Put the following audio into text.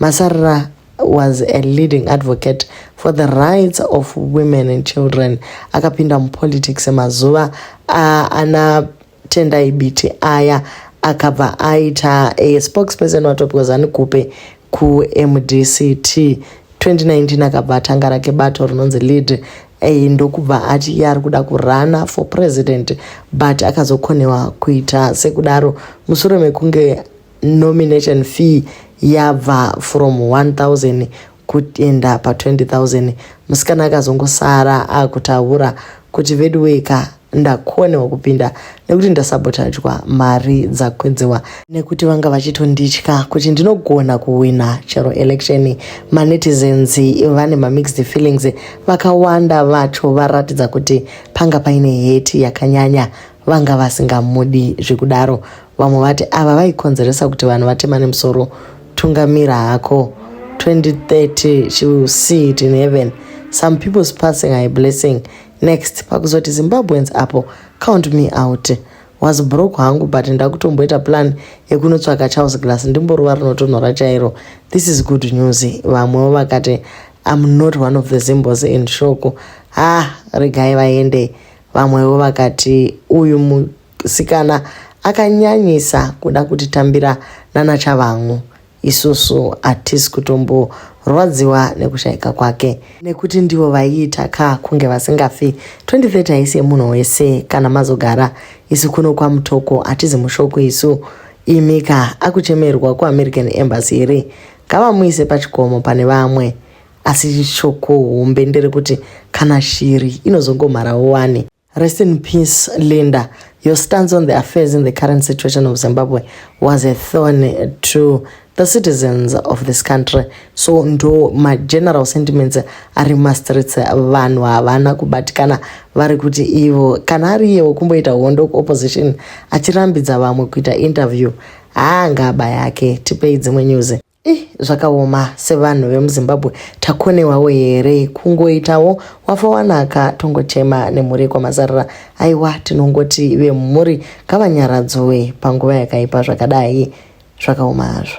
Masarira was a leading advocate for the rights of women and children akapinda mupolitics mazuva ana tendai biti aya akabva aita a spokesperson watopiwa zanikupe kumdct 2019 akabva atanga rake bato rinonzi lead eh, ndokubva ati iye ari kuda kurana for president but akazokonewa kuita sekudaro mushure mekunge nomination fee yabva from 1000 kuenda pa 20000 musikana akazongosara akutaura kuti veduweka ndakonewa kupinda nekuti ndasabotadjwa mari dzakwedzewa nekuti vanga vachitonditya kuti ndinogona kuwina chero election manetizens vane mamixed feelings vakawanda vacho varatidza kuti panga paine heti yakanyanya vanga vasingamudi zvekudaro vamwe vati ava vaikonzeresa kuti vanhu vatemane musoro tungamira hako 2030 she will see it in heaven some people's passing are a blessing next pakuzoti zimbabweans apo count me out was broke hangu but ndakutomboita plan yekunotsvaka charles glass ndimboruva rinotonhora chairo this is good news vamwewo vakati am not one of the zimbos in shoko ha ah, regai vaende Vamwewo vakati uyu musikana akanyanyisa kuda kutitambira nana Chavangu. Isusu hatisi kutomborwadziwa nekushayika kwake nekuti ndivo vaiita ka kunge vasingafi. 2030 haisi yemunhu wese kana mazogara. Isu kuno kwaMutoko hatizi mushoko isu. Imi ka akuchemerwa kuAmerican Embassy here? Ngavamuise pachikomo pane vamwe. asi shoko hombe nderekuti kana shiri inozongomharawo wani rest in peace linda your stance on the affairs in the current situation of zimbabwe was a thorn to the citizens of this country so ndo mageneral sentiments ari mumastreets vanhu havana kubatikana vari kuti ivo kana ari iyewo kumboita hondo kuopposition achirambidza vamwe kuita interview haangaba yake tipei dzimwe news I zvakaoma sevanhu vemuzimbabwe takonewawo here kungoitawo wafa wanaka tongochema nemhuri yekwamazarira aiwa tinongoti vemhuri ngavanyaradzowe panguva yakaipa zvakadai zvakaoma hazvo